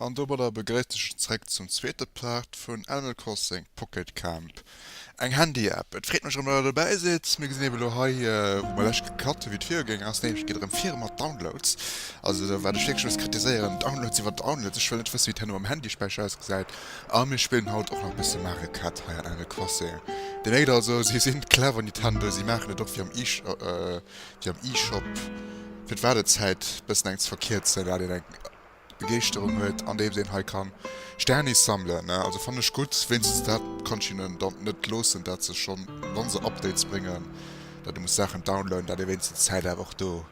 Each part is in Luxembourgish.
An domadder begréisst ech iech zréck zum zweete Part vun Animal Crossing Pocket Camp, eng Handy-App. Et freet mech erëm, datt der dobäi sidd. Mir gesinn eben elo hei, wou mer d'lescht gecut hu wéi et virugaangen ass, nämlech et geet erëm vir mat Downloads. Also wat ech wierklech muss kritiséieren, Downloads iwwer Downloads. Ech wëll net wësse wéi et herno um Handyspäicher ausgesäit. A mir spillen haut och nach bësse Marekett hei an Aire Croisée. Dir méikt also, si sinn clever Nintendo, si maachen et och wéi am wéi am eShop, fir d'Waardezäit bëssen eng ze verkierzen, dat een eng Begeeschterung huet andeems een hei kann Sternis sammelen. Also fannen ech gutt, wéinstens dat kann ech hinnen dann net loossen, dat se schonn, wa se Updates bréngen, dat ee muss Saachen downloaden, dat ee wéinstens d'Zäit awer och do.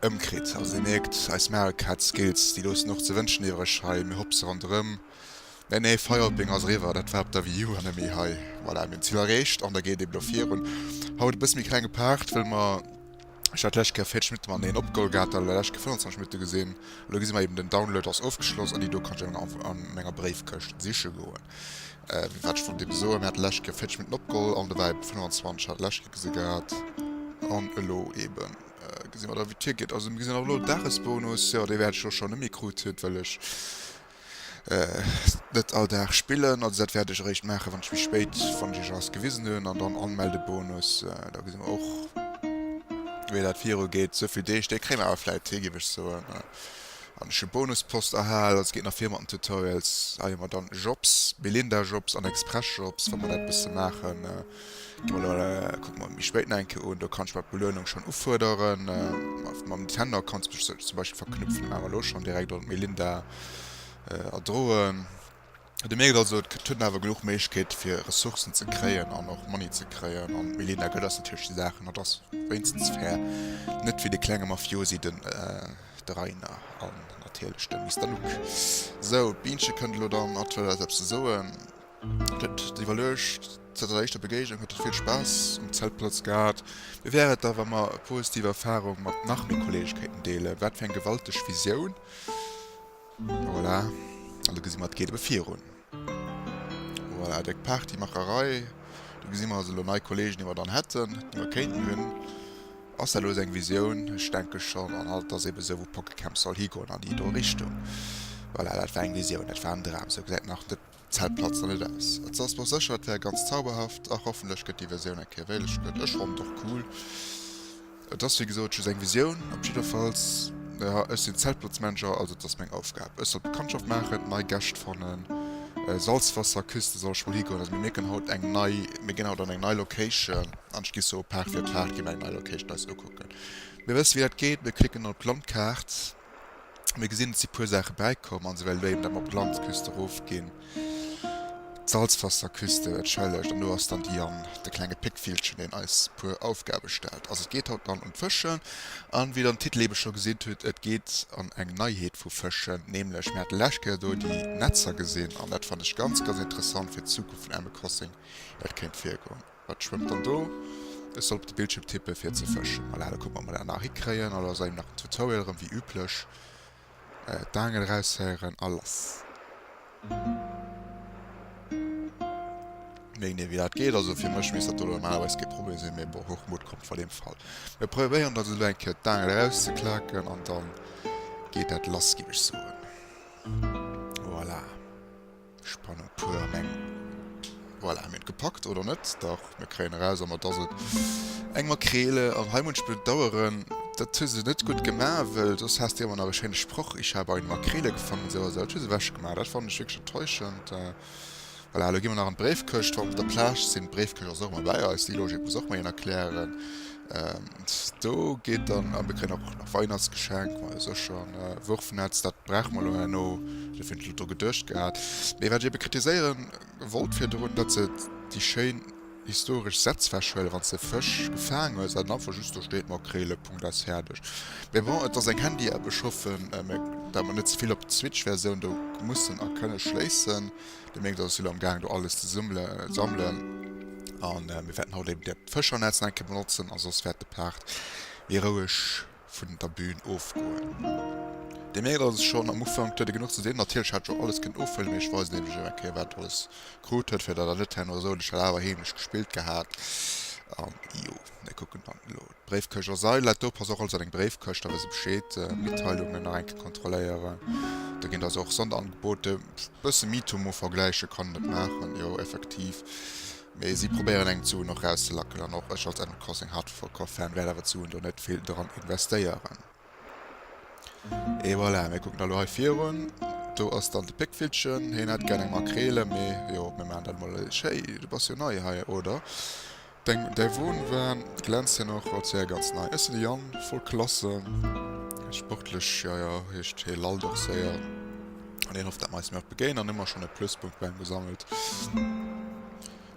Ëmkritt. Also dir mierkt, eis Marek hat Skills, déi loossen och ze wënschen iwwereg hei. Mir hopse ronderëm. Nee, nee, Feierpeng ass eriwwer, dat war op der Wii U an net méi hei. Voilà, mir hunn d'Zil erreecht an da geet ee blo virun. Haut e bësse méi klenge Part, wëll mer, ech hat d'lescht Kéier 40 Minutte mateneen opgeholgehad, da d'lescht Kéier 25 Minutte gesinn. Elo gesi mer eeben, den Download ass ofgeschloss an déi do kann ech dann an menger Bréifkëscht siche goen. Wat ech vun deem soen, hat d'lescht Kéier 40 Minutten opgeholl an dobäi 25 hat d'lescht Kéier gesi gehat. An elo eben gesi mer da wéi d'Tier geet. Also mir gesinn och elo Dagesbonus, jo dee wäert ech elo schonn net méi krut huet, well ech net all Dag spillen. Also dat wäert ech eréischt maachen, wann ech méi spéit, wann ech iech alles gewisen hunn. An dann Anmeldebonus, da gesi mer och wéi dat viru geet. Souvill Deeg, déi kréie mer awer vläit hi, géif ech soen. An ech hu Bonuspost erhal, also geet nach vir mat den Tutorials. Hei hu mer dann Jobs, Belinda Jobs an Express Jobs, wa mer dat bësse maachen. Gi mer elo, kucke mer méi spéit nach eng Kéier un. Do kann ech mer d'Beluenung schonn ufuerderen. Mam Nintendo Account zum Beispill verknüpfen, maache mer elo schonn direkt an d'Melinda erdroen. Dir mierkt also, et gëtt awer genuch Méiglechkeete fir Ressourcen ze kréien an och Money ze kréien. An Milena gëtt ass natierlech déi Saach an dat ass wéinstens fair. Net wéi de klenge Mafiosi, den de Rainer an natierlech de Mister Luc. Sou, d'Bienche kënnt elo dann an d'wëll eis eppes ze soen. Et huet et iwwerluecht. Zënter der éischter Begéignung huet et vill Spaass um Zeltplatz gehat. Wéi wär et da wa mer e positiv Erfarung mat nach méi Kolleegekéinten deelen? Wat fir eng gewalteg Visioun! Voilà, an do gesi mer, et geet ebe virun. Voilà, déck Party, Macherei. Do gesi mer also elo nei Kolleegen, déi mer dann hätten, déi mer kéinten hunn. Ass dat elo esou eng Visioun? Ech denke schonn. An alt ass ebe esou, wou Pokécamp soll higoen, an déi do Richtung. Voilà, dat war eng Visioun, dat war en Dram. Esou gesäit nach net. D'Zäit platzt nach net aus. Et ass mech sécher et wär ganz zauberhaft a hoffentlech gëtt déi Versioun eng Kéier wéileg gëtt. Ech fonnt och cool. Et ass wéi gesot just eng Visioun. Op jiddefalls, naja, ech sinn Zeltplatzmanager, also et ass meng Aufgab. Ech soll Bekanntschaft maachen, nei Gäscht fannen, Salzwasserküste soll ech mol higoen. Also mir mierken haut eng nei, mir ginn haut an eng nei Location an ech gi soe Paart fir Paart gi mir eng nei Location eis ukucken. Mir wësse wéi dat geet, mir klicken op d'Landkaart. Mir gesinn, et si puer Saache bäikomm an esou well léieren dat mer op d'Glanzküste erofginn. D'Salzwasserküste, et schëllegt an do ass dann déi an de klenge Péckvillchen, deen eis puer Aufgabe stellt. Also et geet haut dann un d'Fëschen an wéi der den Titel ebe scho gesinn hutt, et geet an eng Neiheet vu Fëschen, nämlech mir hat d'lescht Kéier do déi Netzer gesinn an dat fannen ech ganz, ganz interessant fir d'Zukunft vun Animal Crossing, dat kéint virgoen. Wat schwëmmt dann do? Ech soll op de Bildschierm tippen fir ze fëschen. Voilà, da kucken mer mol, nach hikréien. Alo ass eeben nach den Tutorial erëm, wéi üblech. D'Aangel eraushéieren a lass. Meng net wéi dat geet, also fir mech misst dat elo normalerweis kee Problem sinn, mee bon, Hochmut kommt vor dem Fall. Mir probéieren dat elo eng Kéier d'Aangel erauszeklaken an dann geet dat lass, géif ech soen. Voilà. Spanner Puerleng. Voilà, mir hunn et gepackt, oder net? Dach, mir kréien eraus, an et ass et. Eng Makrele. An hei munch bedaueren, dat hu se net gutt gemaach, wëll soss häss de ëmmer nach e schéine Sproch, Ich habe eine Makrele gefangen, esou a esou. Dat hu se ewech gemaach. Dat fannen ech wierklech enttäuschend. Voilà, elo gi mer nach an d'Bréifkëscht, wa mer op der Plage sinn. D'Bréifkëscht ass och ëmmer bäi eis, déi Logik muss och mol een erklären. And do geet dann an de kréien och nach Weihnachtsgeschenk mei secher ne Wurfnetz dat brauch mer lo herno de fir lo dru gedurcht gehat mee wat ech ebe kritiséieren wollt fir drun dat se déi schéin historesch Sätz wechhuelen wann se Fësch gefaang hues an einfach just do steet Makrele Punkt aus fäerdeg mee bon et ass eng Handy App ech hoffen dat mer net zevill op d'Switch Versioun do mussen a kënne schléissen. De Méigs ass lo am gaang do alles ze summele sammelen an mir wäerten haut eben dat Fëschernetz nach eng Kéier benotzen a soss wäert de Part méi roueg vun der Bühn ofgoen. De Méigs ass schonn am Ufank, huet e genuch ze dinn, natierlech hat scho alles kënnen ofhuelen, mee ech weisen iech eben eng Kéier wat e alles krut huet, fir datt der net herno sot, ech hätt awer heemlech gespillt gehat an jo, mir kucken dann elo. Bréifkëscht ass ei Letto, pass och also an eng Bréifkëscht, da weess e Bescheed. Mitteilungen nach eng Kéier kontrolléieren, do ginn der se och Sonderangebote. Bësse Mitomo vergläiche kann en et maachen, jo effektiv, mee si probéieren eng d'Suen och rauszelacken an och ech als Animal Crossing Hardcore Fan wäert awer d'Suen do net vill dran investéieren. Et voilà, mir kucken da elo hei virun, do ass dann de Péckvillchen, heen hätt gär eng Makrele, mee jo, mir maachen dat emol. Hey, du bass jo nei hei, oder? Deng däi Won war glänzt hien och als wär ganz nei ësse de Yann voll klasse sportlech ja ja heescht hie lallt och séier an hien hofft dat mer eis nach begéinen an ëmmer schonn e Pluspunkt bei em gesammelt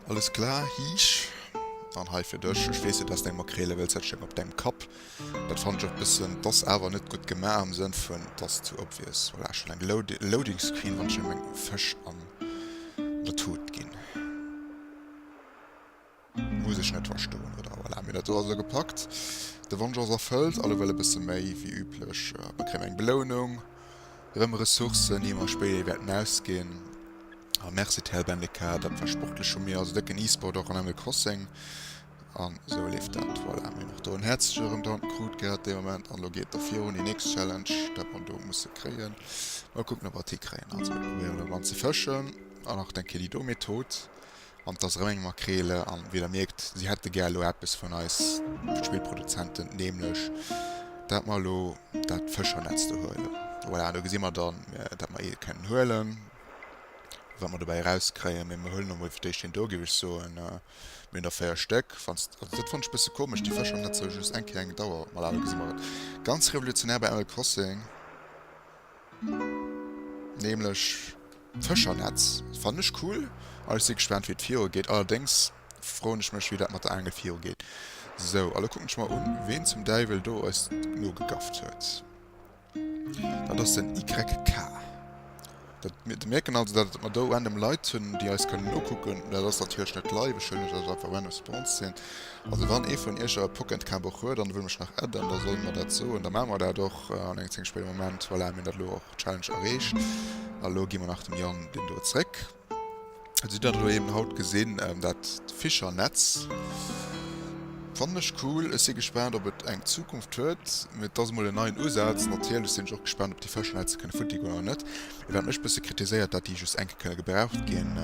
alles klar Hiisch dann hei fir dech ech weess jo dass deng Makrele wëlls dat sténg op dengem Kapp dat fannen ech och bëssen dass awer net gutt gemaach am Sënn vun dass zu obvious voilà schonn eng loading loading screen wann ech em eng Fësch an der Tut ginn. Muss ech net verstoen, oder? Voilà, mir dat do also gepackt. De Wonsch ass erfëllt, all ewell e bësse méi wéi üblech. Mir kréien eng Belounung, rëm Ressourcen, déi mer spéider ee wäerten ausginn. A merci TL Bendeca, dat war sportlech vu mir. Also décken E-Sport och an Animal Crossing. An esou leeft dat. Voilà, mir hunn och do en häerzleche Rentant krut gehat dee Moment. An elo geet et da virun, déi nächst Challenge, dat mer do musse kréien. Mol kucken, ob mer et hikréien. Also mir probéieren elo dran ze fëschen. An nach den Kelly do, mee tot. An et ass erëm eng Makreel. An wéi der mierkt, si hätte gär elo eppes vun eis Spillproduzenten, nämlech dat mer elo dat Fëschernetz do huelen. Voilà, an do gesi mer dann, dat mer ee kënnen huelen, wat mer dobäi erauskréien. Mee mer huelen emol fir d'éischt een do, géif ech soen. Mir hunn der véier Stéck. Wann s, also dat fannen ech e bësse komesch, déi Fëschernetzer hu just eng Kéier eng Dauer. Voilà, do gesi mer et. Ganz revolutionär bei Animal Crossing. Nämlech d'Fëschernetz. Dat fannen ech cool an ech si gespaant wéi et virugeet. Allerdéngs froen ech mech wéi dat mat der Aangel virugeet. Sou, a lo kucken ech mer un, ween zum Däiwel do eis nogegafft huet. Dat ass den YK. Dat mir, merken also dat mer do random Leit hunn déi eis kënnen nokucken. Dat ass natierlech net live, ech huelen iech dat einfach random spontan. Also wann ee vun iech e Pocketcabuch huet an e wëll mech nach adden, da soll e mer dat soen, da maache mer dat och an engem zénge spéidere Moment. Voilà, mir hunn dat elo och, Challenge erreecht. A elo gi mer nach dem Yann deen do zréck. Also dir hatt elo eben haut gesinn, dat Fischernetz fannen ech cool. Ech si gespaant, ob et eng Zukunft huet, mee et ass emol en neien Usaz. Natierlech sinn ech och gespaant, ob déi Fësch dann hetze kënne futti goen oder net. Mee wat mech e bësse kritiséiert, dat déi just eng Kéier gebraucht ginn.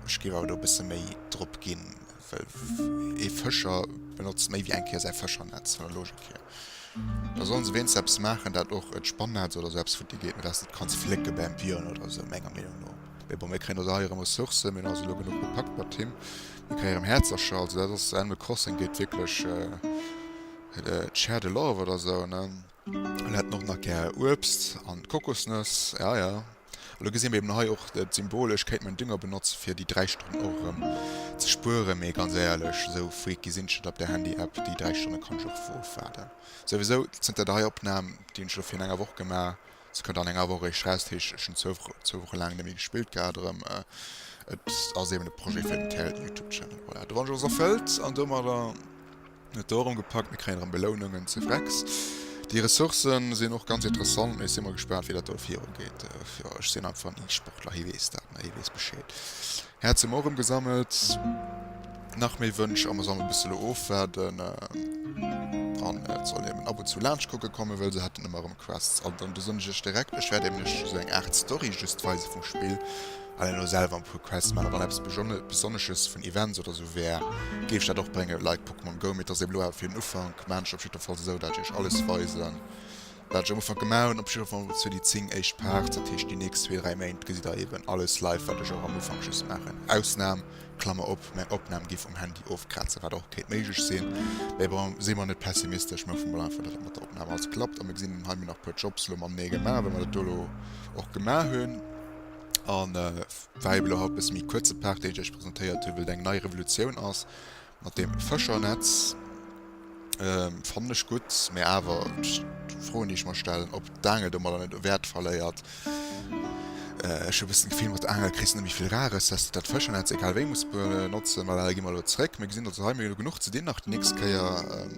Ech géif awer do e bësse méi drop ginn. Well ee Fëscher benotzt méi wéi eng Kéier säi Fëschernetz, vun der Logik hier. Da sollen se wéinst eppes maachen, dat och e Spannetz oder esou eppes vun dir geet, mä dat s de net kanns flécke bäm Björn oder esou, menger Meenung no. Mee bon, mir kréien also hei erëm Ressourcen, mir hunn also elo genuch gepackt mat him. Mir kréie erëm Häerzercher, also dat ass, Animal Crossing geet wierklech, Share the love oder esou, ne? An hätten och nach gär Uebst an Kokosnëss. Ja, ja. Elo gesin mir eben hei och et symbolesch, kéint man Dünger benotzen fir déi 3 Stonnen och erëm ze spueren. Mee ganz éierlech, esou freak gesin ech net, op der Handy App déi 3 Stonnen kann ech och ofwaarden. Souwisou zënter der hei Opnahm, déi hun ech elo virun enger Woch gemaach, se kënnt an enger Woch eréischt raus, dat heescht ech hun zwou Woche laang net méi gespillt gehaat erëm. Et ass eben e Projet fir den Youtube Channel. Voilà, de Wonsch ass erfëllt an domadder. Mir hunn et do erëm gepackt, mir kréien erëm Belounungen zu Wrex. Déi Ressourcë sinn och ganz interessant, mee ech si mol gespaant, wéi dat do viru geet. Jo, ech sinn einfach en E-Sportler, hee weess dat, ne? Hee weess Bescheed. Häerz hu mer och erëm gesammelt. Nach méi Wënsch a mer sollen e bësse lo ofwaarden. An et soll eben ab und zu laanscht kucke kommen, well se hätten ëmmer erëm Quests. An dann du soen ech iech direkt, ech wäert iech nämlech esou eng Aart Story just weise vum Spill. Wann een elo selwer en puer Quests maacht, wann eppes besonnesches vun Events oder sou wär, géif ech dat och bréngen, like Pokémon Go, mee et ass eben elo awer fir den Ufank. Maan ech opjiddefalls esou, dat ech iech alles weisen, wat ech am Ufank gemaach hunn, opjiddefall mol fir déi 10 éischt Parts, dat heescht déi nächst zwee, dräi Méint gesitt der eben alles live, wat ech och am Ufank just maachen. Ausnam, Klammer op, mäin Opnam gi vum Handy ofkrazen, wat och kéint méiglech sinn, mee bon, si mer net pessimistesch, mir hoffe mol einfach, dat dat mat der Opnam alles klappt. A mir gesinn, hunn hei mir nach e puer Jobs elo matenee gemaach, wéi mer dat do elo och gemaach hunn. An wei elo haut bis mi kuerze Part dee ichch presentéiert hu wild eng nei Revolutioun ass mat dem Fëschernetz ähm, fannech gutt mé awer froen ichch mar stellen op d'Angel do mat net Wäert verléiert. Ech hu bëssen d'Gefill mat der Angel kriss net méi vill Rares, dass de dat Fëschernetz egal wéi muss benotzen. Well gi mer elo zréck, mir gesinn dass hei mir elo genuch ze dinn nach déi nächst Kéier.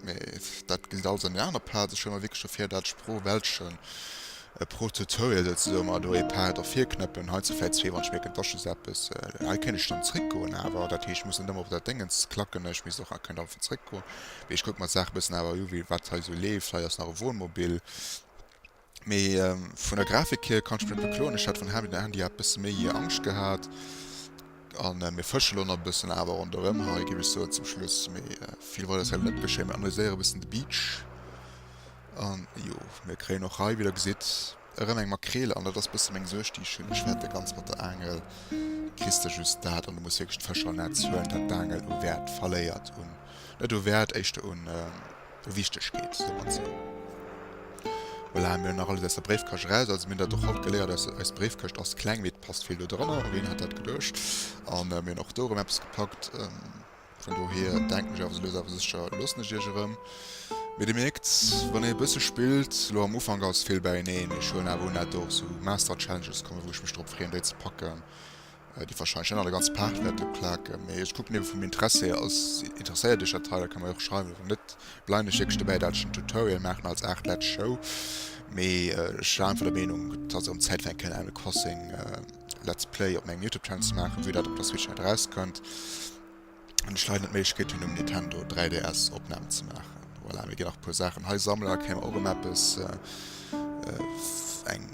Mee dat gesitt also eng aner Plaz. Ech stelle mer wierklech ervir, dat Sprooch-Wäldchen pro Tutorial souzesoen, mer do ee Pad ervirknëppen, hei zu vläit zwee, wann ech mierken, dass just eppes. Hei kéint ech dann zréckgoen awer, dat heescht, ech muss net ëmmer op dat Déngens klacken, ech misst och, ah, kënnt einfach zréckgoen. Mee ech kucke mer d'Saach e bëssen awer u, wéi wat hei esou leeft. Hei ass nach e Wohnmobil. Mee vun der Grafik hier kann ech mech net bekloen. Ech hat vun Handy zu Handy awer bessen méi Angscht gehat. An mir fëschen lo nach bessen awer ronderem hei géif ech soen zum Schluss. Mee vill wollt ech selwer net geschéien. Mir analyséieren bessen de Beach. An jo mir kréien och hei wéi der gesitt erëm eng Makreel. An dat ass bessen meng Suerg déi ech hunn. Ech fäert de ganz mat der Aangel kriss de just dat an du muss wierklech d'Fëscher am Netz huelen dat d'Aangel u Wäert verléiert. Un net u Wäert éischter un. do wichteg geet domat ze hunn. Voilà, mir hunn nach alles aus der Bréifkascht eraus, also mir hunn dat och haut geléiert, aus, eis Bréifkëscht ass kleng, mee et passt vill do drënner, ween hätt dat geduecht. A mir hunn och do erëm eppes gepackt, vun dohier denken ech awer, sou lues awer sécher loossen ech iech erëm. Mee dir mierkt, wann ee e bësse spillt, lo am Ufank ass vill beieneen, ech huelen awer un dat do och sou Master Challenges komme wou ech mech drop freeën déi ze packen, Déi wahrscheinlech net an der ganzer Paart wäerte klaken, mee ech kucken eben vum Interesse hier aus. Interesséiert iech dat hei? Da kann mer jo och schreiwen. Wann net, bleiwen ech wierklech dobäi dat ech en Tutorial maachen als Aart Letz Show, mee ech war einfach der Meenung et ass erëm Zäit fir eng kleng Animal Crossing Letz Play op mengem Youtube Channel ze maachen, vue dat op der Switch net erauskënnt. Hunn ech leider net d'Méiglechkeet hunn um Nintendo 3DS Opnahmen ze maachen. Voilà, mir ginn nach e puer Saachen hei sammelen, da kréie mer och em eppes, eng,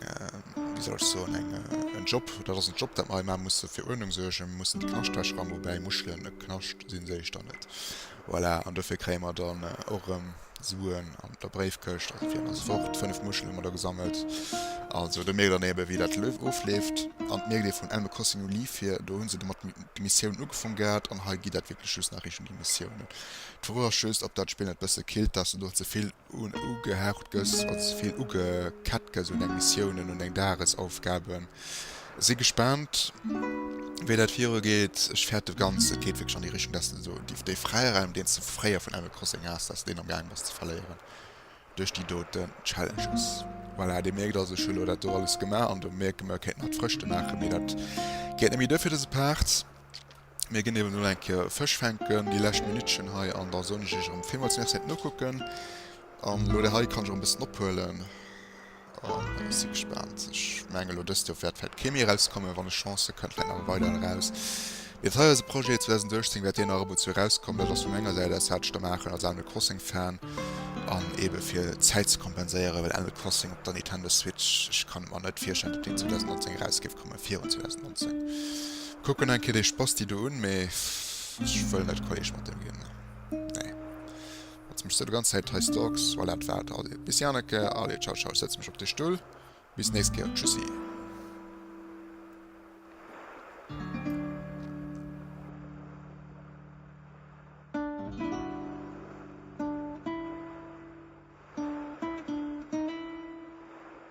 wéi soll ech soen, eng, en Job, dat ass en Job dat mer hei maachen, musse fir Uerdnung suergen, mir mussen d'Knaschtäsch ramen, woubäi Muschelen e Knascht sinn, sehe ech dann net. Voilà, an dofir kréie mer dann och erëm. Suen an der Bréifkëscht, also fir eng ganz Woch. Fënnef Muschelen hu mer do gesammelt. Also do mierkt een eben, wéi dat Lëf ofleeft. An et mierkt ee vun Animal Crossing no Leaf hier, do hu se domat d'Missiounen ugefaang gehat an hei geet dat wierklech just nach Richtung déi Missiounen. D'Fro ass just, ob dat Spill net e bësse killt, dass du do ze vill ugehaucht gëss, also ze vill ugekettert gëss un deng Missiounen, un deng Dagesaufgaben. Si gespaant wéi dat virue geet. Ech fäert de ganz, et geet wierklech an déi Richtung, dass de esou dee Fräiraum deens de fréier vun Animal Crossing haas, dass deen am gaang bass ze verléieren duerch déi doten Challenges. Voilà, dir mierkt also ech hu lo dat do alles gemaach an do mierke mer kéinten hatt Frëschte maachen, mee dat geet net méi duer fir dëse Part. Mir ginn eben elo eng Kéier Fësch fänken, déi lescht Minuttchen hei an da soen ech iech erëm villmools Merci fir d'Nokucken an lo dei hei kann ech och e bëssen ophuelen. An ech si gespaant. Ech menge lo dëst Joer wäert vläit kee méi erauskommen. Wann ech Chance hu kënnt vläit nach e weideren eraus. Mee dat hei ass e Projet, 2018 wäert deen nach ëmmer zu erauskommen. Dat ass vu menger Säit aus, wat ech da maachen als Animal Crossing Fan. An eebe fir d'Zäit ze kompenséieren, well Animal Crossing op der Nintendo Switch, ech kann et mer net virstellen, datt deen 2019 eraus géif kommen, virun 2019. Kucken eng Kéier dee Spasti do un, mee ech wëll net Kolleg mat deem ginn, nee. Jetzt mechs du de ganz Zeit hei Stalks. Voilà, dat war et. Allez, bis déi aner Kéier. Allez, ciao, ciao. Ech setze mech op de Stull. Bis nächst Kéier. Tschüssi.